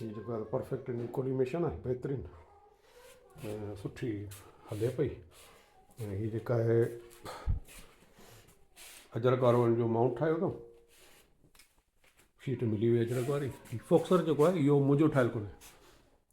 ھي جيڪو آھي پرفيڪٽ ان جي ڪوليميشن آھي بھترين ۽ سٺي ھلي پئي ۽ ھي جيڪا آھي اجرڪ وارو ان جو ماؤنٽ ٺاھيو اٿم شيٽ ملي وئي اجرڪ واري ھي فوڪسر جيڪو آھي اھو منھنجو ٺاھيل ڪونھي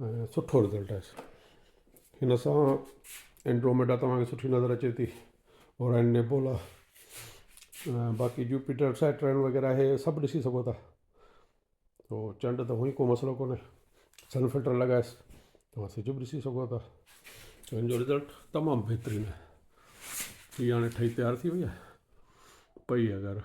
۽ سٺو رزلٽ آيس هن سان اينڊروميڊا توهان کي سٺي نظر اچي ٿي اور اين نيبولا ۽ باقي جوپيٽر سيٽرن وغيره هي سڀ ڏسي سگهو ٿا تو چنڊ ته هونئي ڪو مسئلو ڪونهي سن فلٽر لڳائيس توهان سج به ڏسي سگهو ٿا هن جو رزلٽ تمام بهترين آهي هي هاڻي ٺهي تيار ٿي وئي آهي پئي اگر